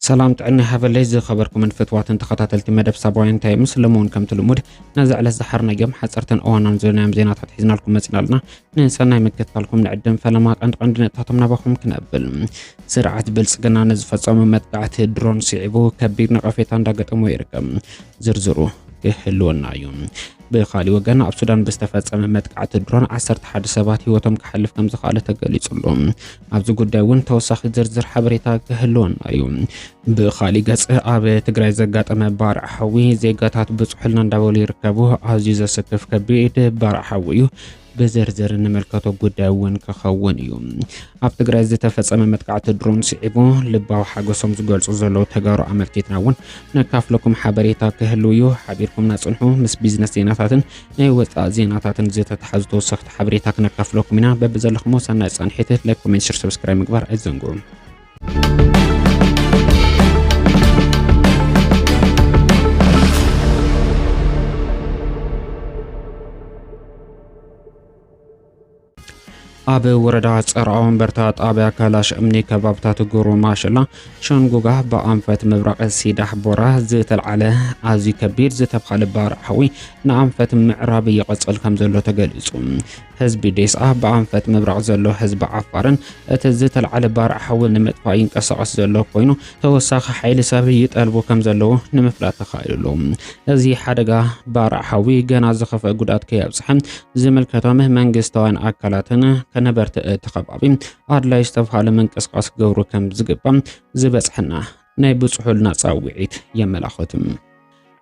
ሰላም ጥዕና ሃበለይ ዝኸበርኩምን ፍትዋትን ተኸታተልቲ መደብ ሳባውያን እንታይ ምስ ለመውን ከምቲ ልሙድ ነዚ ዕለት ዝሓርናዮም ሓፀርትን እዋናን ዝለናዮም ዜናታት ሒዝናልኩም መፂና ኣለና ንሰናይ ምክትታልኩም ንዕድም ፈለማ ቀንዲ ቀንዲ ነጥታቶም ናባኹም ክነብል ስርዓት ብልፅግና ንዝፈፀሙ መጥቃዕቲ ድሮን ስዒቡ ከቢድ ነቐፌታ እንዳገጠሞ ይርከብ። ዝርዝሩ ክህልወና እዩ። ብካሊእ ወገን ኣብ ሱዳን ብዝተፈፀመ መጥቃዕቲ ድሮን 11 ሰባት ህይወቶም ክሓልፍ ከም ዝኸኣለ ተገሊጹ ኣሎ። ኣብዚ ጉዳይ እውን ተወሳኺ ዝርዝር ሓበሬታ ክህልወና እዩ። ብኻሊእ ገፅ ኣብ ትግራይ ዘጋጠመ ባርዕ ሓዊ ዜጋታት ብፅሑልና እንዳበሉ ይርከቡ። ኣዝዩ ዘሰክፍ ከቢድ ባርዕ ሓዊ እዩ። ብዝርዝር እንምልከቶ ጉዳይ እውን ክኸውን እዩ። ኣብ ትግራይ ዝተፈጸመ መጥቃዕቲ ድሮን ስዒቡ ልባዊ ሓገሶም ዝገልጹ ዘለዉ ተጋሩ ኣመልኪትና እውን ነካፍለኩም ሓበሬታ ክህልው እዩ። ሓቢርኩምና ጽንሑ ምስ ቢዝነስ ዜናታትን ናይ ወጻእ ዜናታትን ዝተተሓዙ ተወሰኽቲ ሓበሬታ ክነካፍለኩም ኢና በብዘለኹሞ ሰናይ ጻንሒት ላይክ ኮሜንት ሽር ሰብስክራይብ ምግባር ኣይዘንግዑ ኣብ ወረዳ ፀርዓ ወንበርታ ጣብያ ካላሽ እምኒ ከባብታት ጉሩ ማሽላ ሸንጉጋ ብኣንፈት ምብራቕ ሲዳሕ ቦራ ዝተልዓለ ኣዝዩ ከቢድ ዝተብሃለ ባርዕ ሓዊ ንኣንፈት ምዕራብ ይቐፅል ከም ዘሎ ተገሊፁ። ህዝቢ ዴስኣ ብኣንፈት ምብራቕ ዘሎ ህዝቢ ዓፋርን እቲ ዝተልዓለ ባርዕ ሓዊ ንምጥፋእ ይንቀሳቐስ ዘሎ ኮይኑ ተወሳኺ ሓይሊ ሰብ ይጠልቡ ከም ዘለዉ ንምፍላጥ ተኻኢሉ ኣሎ። እዚ ሓደጋ ባርዕ ሓዊ ገና ዝኸፍአ ጉድኣት ከየብጽሐ ዝምልከቶም መንግስታውያን ኣካላትን ከነበርቲ እቲ ከባቢ ኣድላይ ዝተብሃለ ምንቅስቓስ ክገብሩ ከም ዝግባእ ዝበጽሐና ናይ ብጽሑልና ጻውዒት የመላኽት።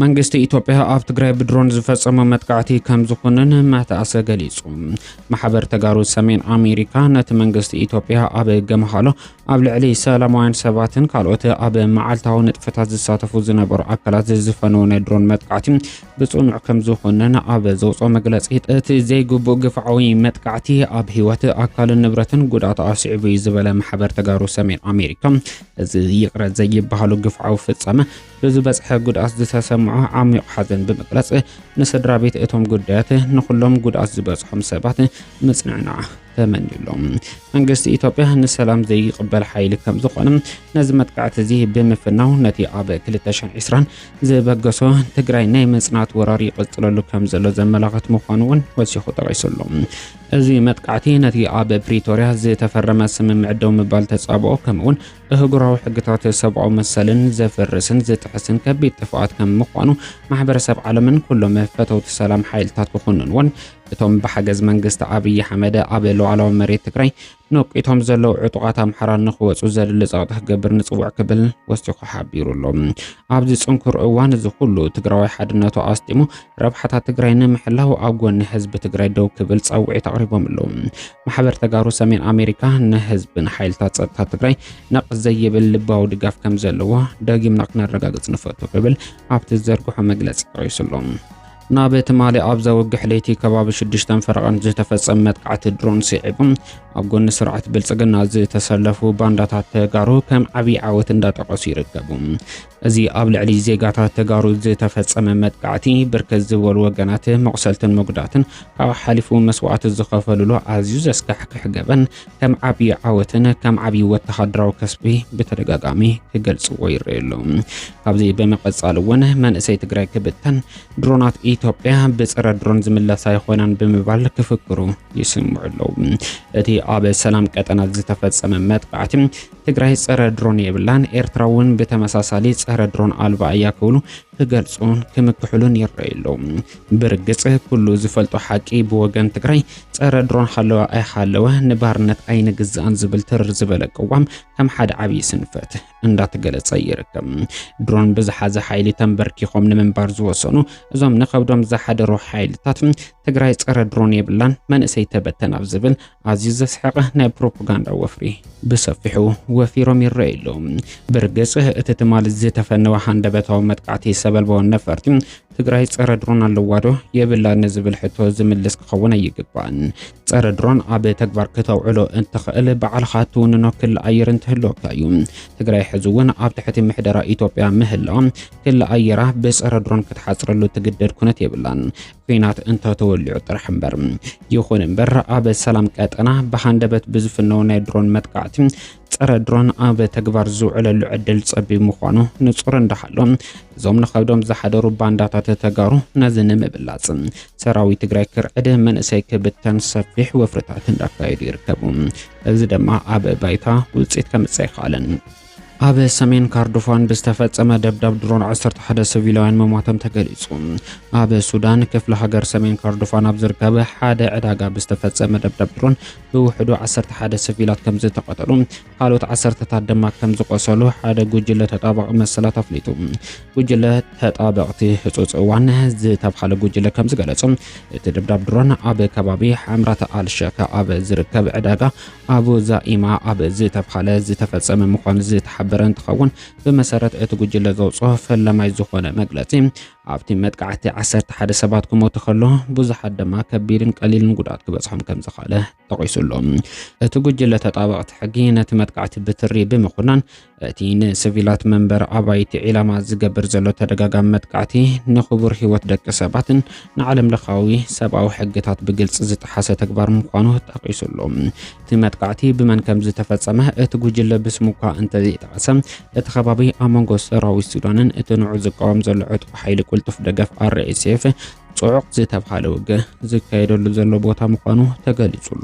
መንግስቲ ኢትዮጵያ ኣብ ትግራይ ብድሮን ዝፈጸሞ መጥቃዕቲ ከም ዝኹንን መተኣሰ ገሊጹ። ማሕበር ተጋሩ ሰሜን ኣሜሪካ ነቲ መንግስቲ ኢትዮጵያ ኣብ ገምሃሎ ኣብ ልዕሊ ሰላማውያን ሰባትን ካልኦት ኣብ መዓልታዊ ንጥፈታት ዝሳተፉ ዝነበሩ ኣካላት ዝፈነወ ናይ ድሮን መጥቃዕቲ ብጽኑዕ ከም ዝኹንን ኣብ ዘውፅኦ መግለጺ እቲ ዘይግቡእ ግፍዓዊ መጥቃዕቲ ኣብ ህይወት ኣካልን ንብረትን ጉድኣት ኣስዒቡ እዩ ዝበለ ማሕበር ተጋሩ ሰሜን ኣሜሪካ እዚ ይቕረ ዘይበሃሉ ግፍዓዊ ፍጻመ ብዝበፅሐ ጉድኣት ዝተሰምዖ ዓሚዩቕ ሓዘን ብምግላፅ ንስድራ ቤት እቶም ጉዳያት ንኹሎም ጉድኣት ዝበፅሖም ሰባት ምፅንዕናዕ ተመኒዩሎም። መንግስቲ ኢትዮጵያ ንሰላም ዘይቕበል ሓይሊ ከም ዝኾነ ነዚ መጥቃዕቲ እዚ ብምፍናው ነቲ ኣብ 2020 ዝበገሶ ትግራይ ናይ ምፅናት ወራር ይቕፅለሉ ከም ዘሎ ዘመላኽት ምዃኑ እውን ወሲኹ ጠቒሱሉ። እዚ መጥቃዕቲ ነቲ ኣብ ፕሪቶርያ ዝተፈረመ ስምምዕ ደው ምባል ተጻብኦ ከምኡውን እህጉራዊ ሕግታት ሰብኣዊ መሰልን ዘፍርስን ዝጥሕስን ከቢድ ጥፍኣት ከም ምዃኑ ማሕበረሰብ ዓለምን ኩሎም ፈተውቲ ሰላም ሓይልታት ክኹንንዎን እቶም ብሓገዝ መንግስቲ ኣብዪ ኣሕመድ ኣብ ሉዓላዊ መሬት ትግራይ ነቂቶም ዘለዉ ዕጡቓት ኣምሓራ ንክወፁ ዘድሊ ፀቕጢ ክገብር ንፅውዕ ክብል ወሲኹ ሓቢሩ ኣሎ። ኣብዚ ፅንኩር እዋን እዚ ኩሉ ትግራዊ ሓድነቱ ኣስጢሙ ረብሓታት ትግራይ ንምሕላው ኣብ ጎኒ ህዝቢ ትግራይ ደው ክብል ጻውዒት ኣቕሪቦም ኣለዉ። ማሕበር ተጋሩ ሰሜን ኣሜሪካ ንህዝብን ሓይልታት ጸጥታ ትግራይ ነቕ ዘይብል ልባዊ ድጋፍ ከም ዘለዎ ደጊምና ክነረጋግጽ ንፈቱ ክብል ኣብቲ ዝዘርግሖ መግለጺ ጠቒሱ ኣሎ። ናብ ትማሊ ኣብ ዘወግሕ ለይቲ ከባቢ ሽዱሽተን ፈረቓን ዝተፈጸመ መጥቃዕቲ ድሮን ስዒቡ ኣብ ጎኒ ስርዓት ብልጽግና ዝተሰለፉ ባንዳታት ተጋሩ ከም ዓብዪ ዓወት እንዳጠቐሱ ይርከቡ። እዚ ኣብ ልዕሊ ዜጋታት ተጋሩ ዝተፈጸመ መጥቃዕቲ ብርክት ዝበሉ ወገናት መቑሰልትን መጉዳትን ካብ ሓሊፉ መስዋእቲ ዝኸፈሉሉ ኣዝዩ ዘስካሕክሕ ገበን ከም ዓብዪ ዓወትን ከም ዓብዪ ወተሃደራዊ ከስቢ ብተደጋጋሚ ክገልጽዎ ይረኣዩ ኣለዉ። ካብዚ ብምቐጻል እውን መንእሰይ ትግራይ ክብተን ድሮናት ኢትዮጵያ ብጸረ ድሮን ዝምለሳ ይኾናን ብምባል ክፍክሩ ይስምዑ ኣለዉ። እቲ ኣብ ሰላም ቀጠና ዝተፈጸመ መጥቃዕቲ ትግራይ ፀረ ድሮን የብላን፣ ኤርትራ እውን ብተመሳሳሊ ፀረ ድሮን ኣልባ እያ ክብሉ ክገልፁን ክምክሕሉን ይረኣዩ ኣለዉ። ብርግፅ ኩሉ ዝፈልጦ ሓቂ ብወገን ትግራይ ፀረ ድሮን ሃለወ ኣይሃለወ ንባርነት ኣይንግዛእን ዝብል ትርር ዝበለ ቅዋም ከም ሓደ ዓብዪ ስንፈት እንዳተገለፀ ይርከብ። ድሮን ብዝሓዘ ሓይሊ ተንበርኪኾም ንምንባር ዝወሰኑ እዞም ንከብዶም ዝሓደሩ ሓይልታት ትግራይ ፀረ ድሮን የብላን መንእሰይ ተበተን ኣብ ዝብል ኣዝዩ ዘስሕቐ ናይ ፕሮፓጋንዳ ወፍሪ ብሰፊሑ ወፊሮም ይረኣዩ ኣለዉ። ብርግጽ እቲ ትማሊ ዝተፈነወ ሃንደበታዊ መጥቃዕቲ ሰበልባዊ ነፈርቲ ትግራይ ጸረ ድሮን ኣለዋ ዶ የብላ ንዝብል ሕቶ ዝምልስ ክኸውን ኣይግባእን። ጸረ ድሮን ኣብ ተግባር ክተውዕሎ እትኽእል ባዕልኻ ትውንኖ ክሊ ኣየር እንትህልወካ እዩ። ትግራይ ሕዚ እውን ኣብ ትሕቲ ምሕደራ ኢትዮጵያ ምህላዋ ክሊ ኣየራ ብጸረ ድሮን ክትሓጽረሉ ትግደድ ኩነት የብላን። ኩናት እንተተወሊዑ ጥራሕ እምበር። ይኹን እምበር ኣብ ሰላም ቀጠና ብሃንደበት ብዝፍነው ናይ ድሮን መጥቃዕቲ ፀረ ድሮን ኣብ ተግባር ዝውዕለሉ ዕድል ፀቢብ ምዃኑ ንፁር እንዳሃሎ እዞም ንኸብዶም ዝሓደሩ ባንዳታት ተጋሩ ነዚ ንምብላፅ ሰራዊት ትግራይ ክርዕድ መንእሰይ ክብተን ሰፊሕ ወፍርታት እንዳካየዱ ይርከቡ። እዚ ድማ ኣብ ባይታ ውፅኢት ከምፅእ ኣይከኣለን። ኣብ ሰሜን ካርዱፋን ብዝተፈጸመ ደብዳብ ድሮን ዓሰርተ ሓደ ሲቪላውያን ምሟቶም ተገሊጹ። ኣብ ሱዳን ክፍለ ሃገር ሰሜን ካርዱፋን ኣብ ዝርከብ ሓደ ዕዳጋ ብዝተፈጸመ ደብዳብ ድሮን ብውሕዱ ዓሰርተ ሓደ ሲቪላት ከም ዝተቐተሉ ካልኦት ዓሰርተታት ድማ ከም ዝቆሰሉ ሓደ ጉጅለ ተጣባቒ መሰላት ኣፍሊጡ። ጉጅለ ተጣበቕቲ ህጹጽ እዋን ዝተብሃለ ጉጅለ ከም ዝገለጹ እቲ ደብዳብ ድሮን ኣብ ከባቢ ሓምራት ኣልሸከ ኣብ ዝርከብ ዕዳጋ ኣቡ ዛኢማ ኣብ ዝተብሃለ ዝተፈጸመ ምዃኑ ዝተሓበረ እንትኸውን ብመሰረት እቲ ጉጅለ ዘውፅኦ ፈላማይ ዝኾነ መግለፂ ኣብቲ መጥቃዕቲ 11 ሰባት ክሞቱ ከሎ ብዙሓት ድማ ከቢድን ቀሊልን ጉድኣት ክበጽሖም ከም ዝኽኣለ ጠቒሱ ኣሎ። እቲ ጉጅለ ተጣበቕቲ ሕጊ ነቲ መጥቃዕቲ ብትሪ ብምኹናን እቲ ንሲቪላት መንበሪ ኣባይቲ ዒላማ ዝገብር ዘሎ ተደጋጋሚ መጥቃዕቲ ንኽቡር ህይወት ደቂ ሰባትን ንዓለም ለኻዊ ሰብኣዊ ሕግታት ብግልፂ ዝጠሓሰ ተግባር ምዃኑ ጠቒሱ ኣሎ። እቲ መጥቃዕቲ ብመን ከም ዝተፈጸመ እቲ ጉጅለ ብስሙ እኳ እንተዘይጠቐሰ፣ እቲ ከባቢ ኣብ መንጎ ሰራዊት ሱዳንን እቲ ንዑ ዝቃወም ዘሎ ዕጥቁ ሓይሊ ቁልጡፍ ደገፍ RSF ጽዑቕ ዝተብሃለ ውግእ ዝካየደሉ ዘሎ ቦታ ምዃኑ ተገሊጹ ኣሎ።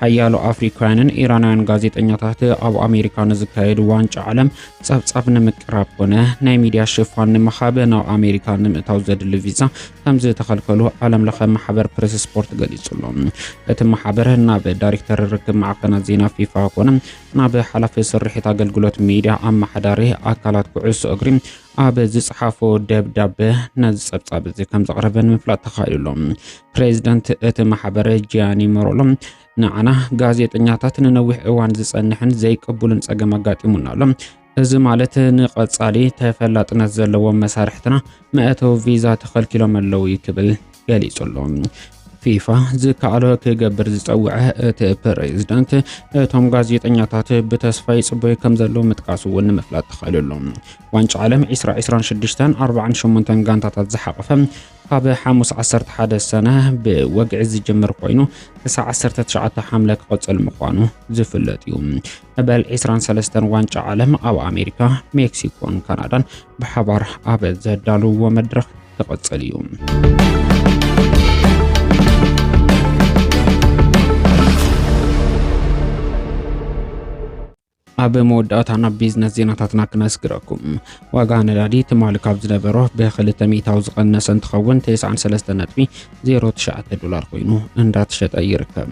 ሓያሎ ኣፍሪካውያንን ኢራናውያን ጋዜጠኛታት ኣብ ኣሜሪካ ንዝካየድ ዋንጫ ዓለም ጸብጻብ ንምቅራብ ኮነ ናይ ሚድያ ሽፋን ንምሃብ ናብ ኣሜሪካ ንምእታው ዘድሊ ቪዛ ከም ዝተኸልከሉ ዓለም ለኸ ማሕበር ፕሬስ ስፖርት ገሊጹሎ እቲ ማሕበር ናብ ዳይሬክተር ርክብ ማዕከናት ዜና ፊፋ ኮነ ናብ ሓላፊ ስርሒት ኣገልግሎት ሚድያ ኣመሓዳሪ ኣካላት ኩዕሶ እግሪ ኣብ ዝጸሓፎ ደብዳበ ነዚ ጸብጻብ እዚ ከም ዘቕረበ ንምፍላጥ ተኻኢሉ ኣሎ። ፕሬዚደንት እቲ ማሕበረ ጂያኒ መሮሎ ንዓና ጋዜጠኛታት ንነዊሕ እዋን ዝጸንሕን ዘይቅቡልን ጸገም ኣጋጢሙና ኣሎ እዚ ማለት ንቐጻሊ ተፈላጥነት ዘለዎም መሳርሕትና መእተዊ ቪዛ ተኸልኪሎም ኣለዉ እዩ ክብል ገሊጹ ኣሎ። ፊፋ ዝከኣሎ ክገብር ዝጸውዐ እቲ ፕሬዝዳንት እቶም ጋዜጠኛታት ብተስፋ ይጽበዩ ከም ዘለዉ ምጥቃሱ እውን ንምፍላጥ ተኻኢሉ ኣሎ። ዋንጫ ዓለም 2026ን 48ን ጋንታታት ዝሓቐፈ ካብ ሓሙስ 11 ሰነ ብወግዒ ዝጅምር ኮይኑ ክሳዕ 19 ሓምለ ክቕጽል ምዃኑ ዝፍለጥ እዩ። መበል ዒስራን ሰለስተን ዋንጫ ዓለም ኣብ ኣሜሪካ፣ ሜክሲኮን ካናዳን ብሓባር ኣብ ዘዳልውዎ መድረኽ ክቕጽል እዩ። ኣብ መወዳእታ ናብ ቢዝነስ ዜናታትና ክነስግረኩም ዋጋ ነዳዲ ትማሊ ካብ ዝነበሮ ብክልተ ሚእታዊ ዝቐነሰ እንትኸውን 93 ነጥቢ 09 ዶላር ኮይኑ እንዳተሸጠ ይርከብ።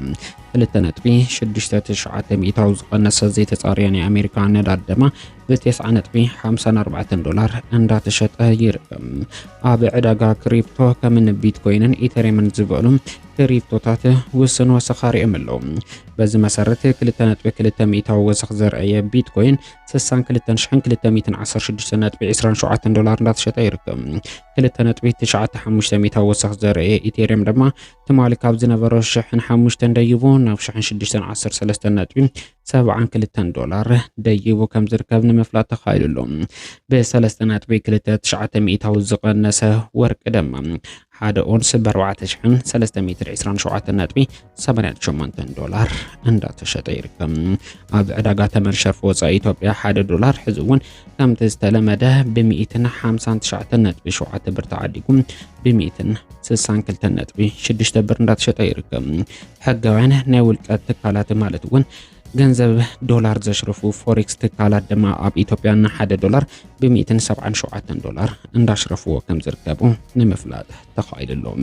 ክልተ ነጥቢ ሽዱሽተ ትሽዓተ ሚእታዊ ዝቐነሰ ዘይተጻርየ ናይ ኣሜሪካ ነዳድ ድማ ብቴስዓ ነጥቢ ሓምሳን ኣርባዕተን ዶላር እንዳተሸጠ ይርከብ። ኣብ ዕዳጋ ክሪፕቶ ከምኒ ቢትኮይንን ኢተሪየምን ዝበሉ ክሪፕቶታት ውስን ወሰኽ ኣርእዮም ኣለዉ። በዚ መሰረት 2.2 ሚእታዊ ወሰኽ ዘርአየ ቢትኮይን 62216.27 ዶላር እንዳተሸጠ ይርከብ። 2.95 ሚእታዊ ወሰኽ ዘርአየ ኢቴሪየም ድማ ትማሊ ካብ ዝነበሮ ሽሕን ሓሙሽተን ደይቡ ናብ ሽሕን ሽዱሽተን ዓሰርተ ሰለስተ ነጥቢ ሰብዓን ክልተን ዶላር ደይቡ ከም ዝርከብ ንምፍላጥ ተኻኢሉ ኣሎ ብሰለስተ ነጥቢ ክልተ ትሽዓተ ሚእታዊ ዝቐነሰ ወርቂ ድማ ሓደ ኦንስ ብኣርባዕተ ሽሕን ሰለስተ ሚእትን ዕስራን ሸውዓተ ነጥቢ ሰማንያን ሸሞንተን ዶላር እንዳተሸጠ ይርከብ ኣብ ዕዳጋ ተመን ሸርፊ ወፃኢ ኢትዮጵያ ሓደ ዶላር ሕዚ እውን ከምቲ ዝተለመደ ብሚእትን ሓምሳን ትሽዓተ ነጥቢ ሸውዓተ ብር ተዓዲጉ ብሚእትን 62 ነጥቢ 6 ብር እንዳተሸጠ ይርከብ። ሕጋውያን ናይ ውልቀ ትካላት ማለት እውን ገንዘብ ዶላር ዘሽርፉ ፎሬክስ ትካላት ድማ ኣብ ኢትዮጵያ ንሓደ ዶላር ብ177 ዶላር እንዳሽረፍዎ ከም ዝርከቡ ንምፍላጥ ተኻኢሉሎም።